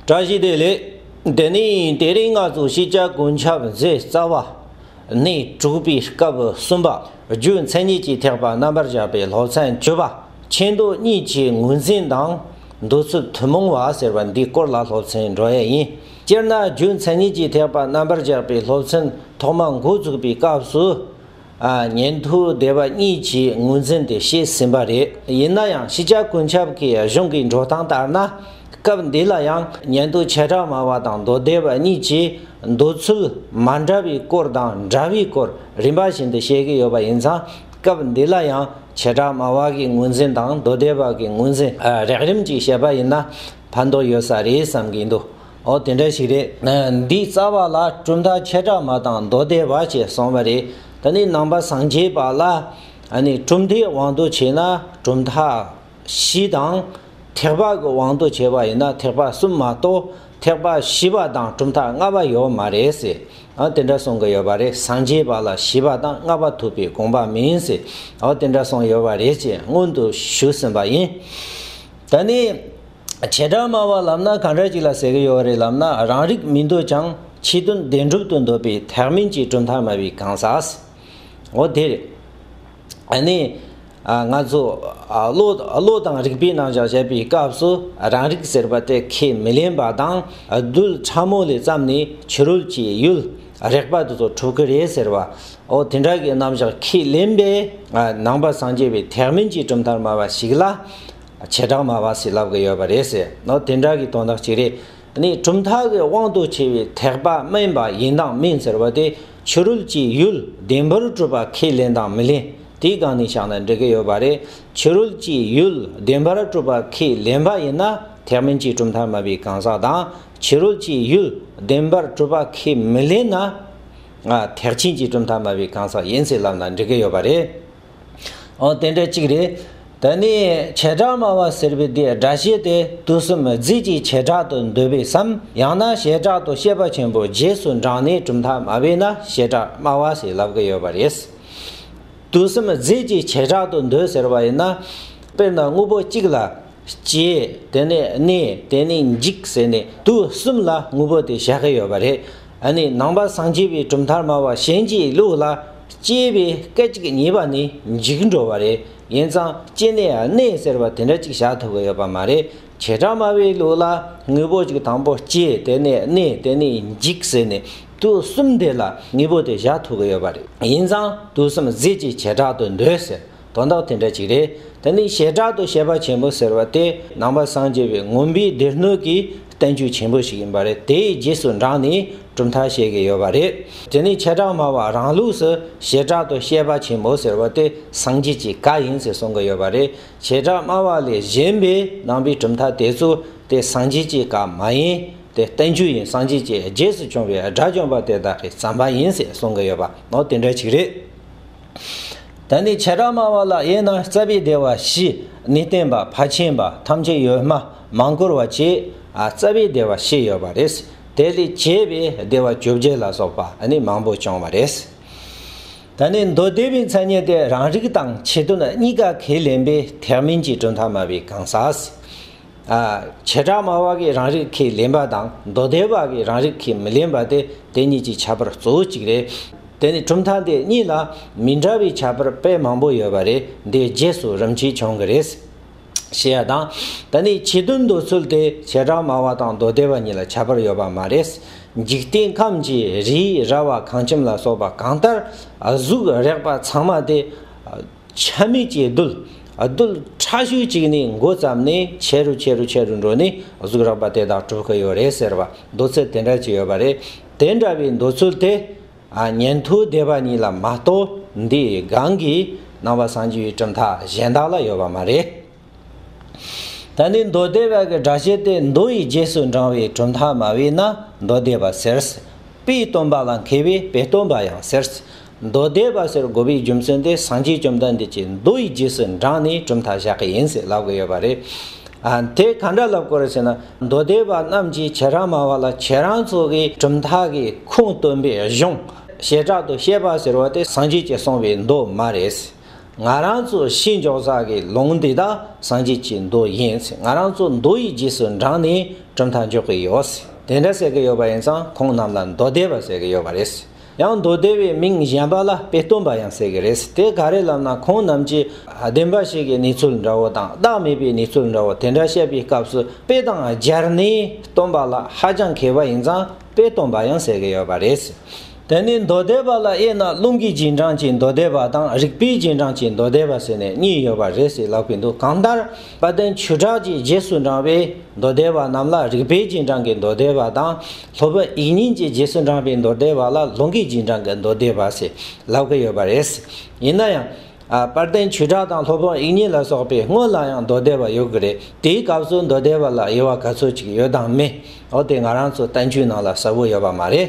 བཀྲ་ཤིས་བདེ་ལེགས། དེ་ནས་དེ་རིང་ང་ཚོ་ཤེས་བྱ་ཀུན་ཁྱབ་མཛད་རྩ་བ། ནས་གྲུབ་པའི་སྐབས་གསུམ་པ་རྒྱུ་མཚན་ཉིད་ཀྱི་ཐེག་པ་རྣམ་པར་བཞག་པའི་སློབ་ཚན་བཅུ་པ་ཕྱི་མདོ་གཉིས་ཀྱི་ངོས་འཛིན་དང། འདོད་ཚུལ་ཐུན་མོང་བ་ཟེར་བ་འདིའི་སྐོར་ལ་སློབ་ཚན་འགྲོ་ཡས་ཡིན། སྤྱིར་ན་རྒྱུ་མཚན་ཉིད་ཀྱི་ཐེག་པ་རྣམ་པར་བཞག་པའི་སློབ་ཚན་ཐོག་མ་འགོ་འཛུགས་པའི་སྐབས་སུ། ཉན་ཐོས་སྡེ་བ་གཉིས་ཀྱིས་ངོས་འཛིན་དེ་བྱས་ཟིན་པ་རེད། ཡིན་ན་ཡང་ཕྱི་རྒྱལ་ཀུན་ཁྱབ་ཀྱི་གཞུང་གི་འགྲོ་སྟངས་ལྟར་ན། སྐབས་འདི་ལ་ཡང་ཉན་ཐོས་བྱེ་བྲག་མང་བ་དང་མདོ་སྡེ་བ་གཉིས་ཀྱིས་འདོད་ཚུལ་མ་འདྲ་བའི་སྐོར་དང་འདྲ་བའི་སྐོར་རིམ་པ་བཞིན་དུ་བཤད་ཀྱི་ཡོད་པ་ཡིན་ཙང་སྐབས་འདི་ལ་ཡང་བྱེ་བྲག་མང་བ་གི་ངོས་འཛིན་དང་མདོ་སྡེ་བ་གི་ངོས་འཛིན་རགས་རིམ་གྱིས་བཤད་པ་ཡིན་ན་ཕན་ཐོགས་ཡོད་ས་རེད་བསམ་གྱི་འདུག། ཨོ་དེ་འདྲ་ཞིག་རེད། འདི་རྩ་བ་ལ་གྲུབ་མཐའ་ཁྱད་གྲགས་མ་དང་མདོ་སྡེ་བ་བཅས་གསུངས་པ་རེད། ད་ནི་ནང་པ་སངས་རྒྱས་པ་ལ། གྲུབ་མཐའི་དབང་དུ་བྱས་ན་གྲུབ་མཐའ་བཞི་དང། ཐེག་པ་གི་དབང་དུ་བྱས་པ་ཡིན་ན་ཐེག་པ་གསུམ་མ་གཏོགས་ཐེག་པ་བཞི་པ་དང་གྲུབ་མཐའ་ལྔ་པ་ཡོད་མ་རེད་ཟེར། ཨོ་དེ་འདྲ་གསུངས་ཀྱི་ཡོད་པ་རེད་སངས་རྒྱས་པ་ལ་བཞི་པ་དང་ལྔ་པ་ཐུབ་པའི་དགོངས་པ་མིན་ཟེར། ཨོ་དེ་འདྲ་གསུངས་ཡོད་པ་རེད་ཅེས་སྔོན་དུ་ཞུས་ཟིན་པ་ཡིན། ད་ནི། བྱེ་བྲག་སྨྲ་བ་ལབ་ན་གང་འདྲ་ཅིག་ལ་ཟེར་གྱི་ཡོད་རེད་ལབ་ན་རང་རིགས་མི་འདོད་ཀྱང་ཕྱི་དོན་བདེན་གྲུབ་ཏུ་འདོད་པའི་ཐེག་དམན་གྱི་གྲུབ་མཐའ་སྨྲ་བའི་གང་ཟག་འོ་དེ་རེད། ཨ་ནི། ང་ཚོ། བློ། བློ་དང་རིག་པའི་རྣམ་གཞག་བྱེད་པའི་སྐབས་སུ་རང་རིག་ཟེར་པ་དེ་ཁས་མི་ལེན་པ་དང་རྡུལ་ཕྲ་མོ་ལས་བརྩམས་ནས་ཕྱི་རོལ་གྱི་ཡུལ་རེག་པ་དེ་ཚོ་གྲུབ་ཀྱི་རེད་ཟེར་བ་འོ་དེ་འདྲ་གི་རྣམ་གཞག་ཁས་ལེན་པའི་ནང་པ་སངས་རྒྱས་པའི་ཐེག་དམན་གྱི་གྲུབ་མཐར་སྨྲ་བ་ཞིག་ལ། བྱེ་བྲག་མ་བ་སི་ལབ་གི་ཡོད་པ་རེད་ཟེར་ནོ་དེ་འདྲ་གི་དོན་དག་ཅིག་རེད་ནི་གྲུབ་མཐའ་གི་དབང་དུ་བྱས་པའི་ཐེག་པ་དམན་པ་ཡིན་དང་མིན་ཟེར་བ་དེ་ཕྱི་རོལ་གྱི་ཡུལ་བདེན་པར་གྲུབ་པ་ཁས་ལེན་དང་མི་ལེན་དེའི་སྒང་ནས་བཞག་ན་འགྲིག་གི་ཡོད་པ་རེད་ཕྱི་རོལ་གྱི་ཡུལ་བདེན་པར་གྲུབ་པ་ཁས་ལེན་པ་ཡིན་ན་ཐེག་དམན་གྱི་གྲུབ་མཐའ་མ་བའི་གང་ཟག་དང་ཕྱི་རོལ་གྱི་ཡུལ་བདེན་པར་གྲུབ་པ་ཁས་མི་ལེན་ན་ཐེག་ཆེན་གྱི་གྲུབ་མཐའ་མ་བའི་གང་ཟག་ཡིན་ཟེར་ལབ་ན་འགྲིག་གི་ཡོད་པ་རེད། འོ་དེ་འདྲ་གཅིག་རེད། ད་ནི་བྱེ་བྲག་སྨྲ་བ་ཟེར་བའི་དེའི་སྒྲ་བཤད་དེ་དུས་གསུམ་རྫས་ཀྱི་བྱེ་བྲག་ཏུ་འདོད་པས་སམ་ཡང་ན་བྱེ་བྲག་ཏུ་བཤད་པ་ཆེན་པོ་རྗེས་སུ་འབྲངས་ནས་གྲུབ་མཐའ་སྨྲ་བས་ན་བྱེ་བྲག་སྨྲ་བ་ཞེས་ལབ་ཀྱི་ཡོད་པ་རེད། དུས་གསུམ་རྫས་ཀྱི་བྱེ་བྲག་ཏུ་འདོད་ཟེར་བ་ཡིན་ན། དཔེར་ན་དངོས་པོ་གཅིག་ལ། སྐྱེ། དེ་ནས་གནས། དེ་ནས་འཇིག་ཟེར་ནས་དུས་གསུམ་ལ་དངོས་པོ་དེ་བཞག་གི་ཡོད་པ་རེད། ཨ་ནི་ནང་པ་སངས་རྒྱས་པའི་གྲུབ་མཐར་སྨྲ་བ་གཞན་གྱི་ལུགས་ལ། སྐྱེས་པའི་སྐད་ཅིག་ཉེས་པ་ནི་འཇིག་འགྲོ་བ་རེད་ཡིན་ཙང་སྐྱེས་ནས་གནས་ཟེར་བ་དེ་འདྲ་གཅིག་བཞག་ཐུབ་ཀྱི་ཡོད་པ་མ་རེད་བྱེ་བྲག་སྨྲ་བའི་ལུགས་ལ་དངོས་པོ་གཅིག་དང་པོ་སྐྱེས་དེ་ནས་གནས་དེ་ནས་འཇིག་ཟེར་ནས་དུས་གསུམ་དེ་ལ་དངོས་པོ་དེ་བཞག་ཐུབ་ཀྱི་ཡོད་པ་རེད་ཡིན་ཙང་དུས་གསུམ་ཟད་ཀྱི་བྱེ་བྲག་ཏུ་འདོད་ཟེར། དོན་དག་དེ་འདྲ་ཅིག་རེད། དེ་ནི་བྱེ་བྲག་ཏུ་བཤད་པ་ཆེན་པོ་ཟེར་བ་དེ་ནང་པ་སངས་རྒྱས་པའི་ངོམས་པའི་སྡེ་སྣོད་ཀྱི་བསྟན་བཅོས་ཆེན་པོ་ཞིག་ཡིན་པ་རེད་དེའི་རྗེས་སུ་འབྲངས་ནས་གྲུབ་མཐའ་བཤད་གི་ཡོད་པ་རེད། དེ་ནི་བྱེ་བྲག་སྨྲ་བ་རང་ལུགས་སུ་བྱེ་བྲག་ཏུ་བཤད་པ་ཆེན་པོ་ཟེར་བ་དེ་སངས་རྒྱས་ཀྱི་བཀའ་ཡིན་ཟེར་གསུང་གི་ཡོད་པ་རེད། བྱེ་བྲག་སྨྲ་བ་ལས་གཞན་པའི་ནང་པའི་གྲུབ་མཐའ་དེ་ཚོ་དེ་སངས་རྒྱས་ཀྱི་བཀའ་མ་ཡིན། དེ་བསྟན་བཅོས་ཡིན་སངས་རྒྱས་ཀྱི་རྗེས་སུ་བྱུང་བའི་དགྲ་བཅོམ་པ་དེ་དག་གི་བརྩམས་པ་ཡིན་ཟེར་གསུང་གི་ཡོད་པ་ནོ་དེ་འདྲ་ཅིག་རེད། ད་ནི་བྱེ་བྲག་སྨྲ་བ་ལ་དབྱེ་ན་རྩ་བའི་བདེ་བ་བཞི་ནི་བརྟེན་པ་ཕར་ཕྱིན་པ་ཐམས་ཅད་ཡོད་སྨྲ་མང་བཀུར་བ་བཅས་རྩ་བའི་བདེ་བ་བཞི་ཡོད་པ་རེད། དེ་ལས་གྱེས་པའི་བདེ་བ་བཅོ་བརྒྱད་ལ་སོགས་པ་ནི་མང་པོ་བྱུང་བ་རེད། ད་ནི་མདོ་སྡེ་པའི་མཚན་ཉིད་དེ་རང་རིག་དང་ཆེད་དོན་གཉིས་ཀ་ཁས་ལེན་པའི་ཐེག་དམན་གྱི་གྲུབ་མཐའ་སྨྲ་བའི་གང་ཟག། བྱེ་བྲག་སྨྲ་བ་གིས་རང་རིག་གིས་ལེན་པ་དང་མདོ་སྡེ་བ་གིས་རང་རིག་གིས་མི་ལེན་པ་སྟེ་དེ་གཉིས་ཀྱི་བྱ་བར་གཙོ་བོ་གཅིག་རེད། དེ་ནི་གྲུབ་མཐའ་འདི་གཉིས་ལ་མི་འདྲ་བའི་བྱ་བར་དཔེ་མང་པོ་ཡོད་པ་རེད་འདིའི་རྗེས་སུ་རིམ་གྱིས་འབྱུང་གི་རེད། ཞེས་ཡ་དང། ད་ནི་བྱེད་དོན་མདོ་ཚུལ་དེ་བྱེ་བྲག་སྨྲ་བ་དང་མདོ་སྡེ་བ་གཉིས་ལ་ཁྱད་པར་ཡོད་པ་མ་རེད། འཇིག་རྟེན་ཁམས་ཀྱི་རིའི་ར་བ་ཁང་ཁྱིམ་ལ་སོགས་པ་གང་ལྟར་གཟུགས་རེག་པ་ཚང་མ་དེ། ཆ་མེད་ཀྱི་རྡུལ། རྡུལ་ཕྲ་ཤོས་གཅིག་ནས་འགོ་བརྩམས་ནས་ཆེ་རུ་ཆེ་རུ་ཆེ་རུ་འགྲོ་ནས་གཟུགས་རགས་པ་དེ་དག་གྲུབ་ཀྱི་ཡོད་རེད་ཟེར་བ་མདོ་ཚུལ་དེ་འདྲ་ཅིག་ཡོད་པ་རེད། དེ་འདྲ་བའི་མདོ་ཚུལ་དེ། ཉན་ཐོས་སྡེ་བ་གཉིས་ལ་མ་གཏོགས་འདིའི་སྒང་གི་སྣང་བ་སངས་རྒྱས་པའི་གྲུབ་མཐའ་གཞན་དག་ལ་ཡོད་པ་མ་རེད། ད་ནི་མདོ་སྡེ་བ་གི་སྒྲ་ཤེས་ཏེ་མདོ་ཡི་རྗེས་སུ་འབྲང་བའི་གྲུབ་མཐའ་མ་བས་ན་མདོ་སྡེ་བ་ཟེར། དཔེའི་སྟོན་པ་ལ་མཁས་པས་དཔེ་སྟོན་པ་ཡང་ཟེར། མདོ་སྡེ་བ་ཟེར་དགོས་པའི་རྒྱུ་མཚན་དེ་སངས་རྒྱས་བཅོམ་ལྡན་འདས་ཀྱིས་མདོ་ཡི་རྗེས་སུ་འབྲངས་ནས་གྲུབ་མཐའ་བཞག་གི་ཡིན་ཟེར་ལབ་གི་ཡོད་པ་རེད། དེ་ག་འདྲ་ལབ་དགོས་རེད་ཟེར་ན་མདོ་སྡེ་བ་རྣམས་ཀྱིས་ཁྱེད་རང་མ་བ་ལ་ཁྱེད་རང་ཚོ་གི་གྲུབ་མཐའ་གི་ཁུངས་སྟོན་པའི་གཞུང་བྱེ་བྲག་ཏུ་བཤད་པ་ཟེར་བ་དེ་སངས་རྒྱས་ཀྱིས་གསུངས་པའི་མདོ་མ་རེད། ང་རང་ཚོ་ཤིང་འཇོག་ས་གི་ལུང་འདི་དག་སངས་རྒྱས་ཀྱི་མདོ་ཡིན་ཚེ་ང་རང་ཚོ་མདོ་ཡི་རྗེས་སུ་འབྲངས་ནས་གྲུབ་མཐའ་འཇོག་གི་ཡོད་དེ་འདྲ་ཟེར་གྱི་ཡོད་པ་ཡིན་ཙང་ཁོང་རྣམས་ལ་མདོ་སྡེ་པ་ཟེར་གྱི་ཡོད་པ་རེད། ཡང་མདོ་སྡེ་པའི་མིང་གཞན་པ་ལ་དཔེ་སྟོན་པ་ཡང་ཟེར་གྱི་རེད་དེ་ག་རེ་ལབ་ན་ཁོང་རྣམས་ཀྱིས་བདེན་པ་ཞིག་གི་གནས་ཚུལ་འདྲ་བོ་དང་བདག་མེད་པའི་གནས་ཚུལ་འདྲ་བོ་དེ་འདྲ་བཤད་པའི་སྐབས་སུ་དཔེ་དང་སྦྱར་ནས་སྟོན་པ་ལ་ཧ་ཅང་མཁས་པ་ཡིན་ཙང། པས་སྟོང་པ་ཡང་ཟེར་གྱི་ཡོད་པ་རེད། དེ་ནི་མདོ་སྡེ་པ་ལ་དབྱེ་ན་རླུང་གི་རྗེས་འབྲང་གི་མདོ་སྡེ་པ་དང་རིག་པའི་རྗེས་འབྲང་གི་མདོ་སྡེ་པ་ཟེར་ནས་གཉིས་ཡོད་པ་རེད་ཟེར་ལབ་ཀྱི་འདུག་གང་ལྟར་དཔལ་ལྡན་ཆོས་གྲགས་ཀྱིས་རྗེས་སུ་འབྲང་བའི་མདོ་སྡེ་པ་རྣམས་ལ་རིག་པའི་རྗེས་འབྲང་གི་མདོ་སྡེ་པ་དང། ལྷོ་བོད་ཡིག་རྙིང་གྱི་རྗེས་སུ་འབྲང་བའི་མདོ་སྡེ་པ་ལ་རླུང་གི་རྗེས་འབྲང་གི་མདོ་སྡེ་པ་ཟེར་ལབ་ཀྱི་ཡོད་པ་རེད། ཡིན་ན་ཡང། པར་བརྟེན་བྱེ་བྲག་དང་སློབ་དཔོན་དབྱིག་གཉེན་ལ་སོགས་པའི་དངོས་ལ་ཡང་མདོ་སྡེ་བ་ཡོད་ཀྱི་རེད་དེའི་སྐབས་སུ་མདོ་སྡེ་བ་ལ་དབྱེ་བ་ག་ཚོད་ཅིག་ཡོད་དམ་མེད་འོ་དེ་ང་རང་ཚོ་བསྟན་བཅོས་ནང་ལ་གསལ་བོ་ཡོད་པ་མ་རེད།